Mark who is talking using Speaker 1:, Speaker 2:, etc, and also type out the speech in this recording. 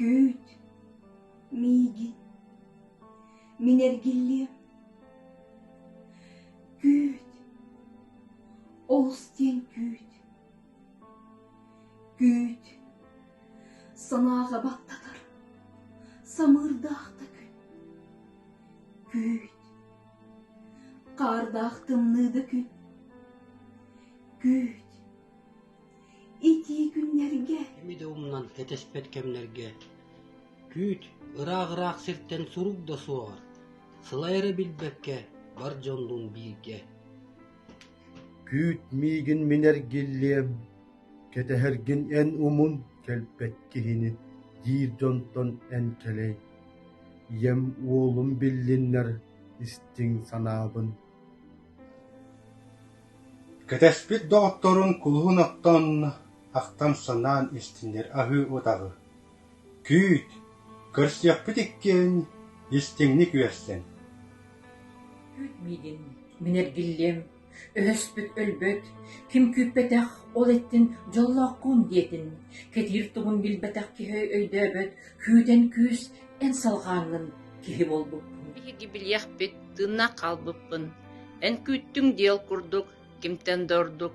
Speaker 1: Күүт, мииги, мин эргиллиэм. Күүт, олус диэн күүт. Күүт, санааҕа баттатар, самыырдаахтык. Күүт, Хаардаах тымныы да күн. Күүт. Итии күннэргэ. Кими да умнан кэтэспэт кэмнэргэ күүт ыраах-ыраах сиртэн сурук да суоҕар сылайара билбэккэ бар дьоннуун бииргэ. Күүт миигин минэр гиллиэм Кэтэһэргин эн умун, кэлбэт киһини, диир дьонтон эн кэлэй. Ийэм уолум биллиннэр, истиҥ санаабын Кэтэспит доҕотторун кулуһун оттон, ахтан санаан истиннэр аһыы утаҕы. Күүт, көрсүөхпүт иккиэн, истиҥник үөрсэн. Күүт миигин, мин эргиллиэм, Өһөспүт өлбөт, ким күүппэтэх, ол иттин дьоллоохкун диэтин, кэтиир тугун билбэтэх киһи өйдөөбөт, күүтэн күүс, эн салҕаанҥын киһи буолбуппун Биһиги билиэхпит, тыынна хаалбыппын Эн күүттүҥ диэл курдук, кимтэн да ордук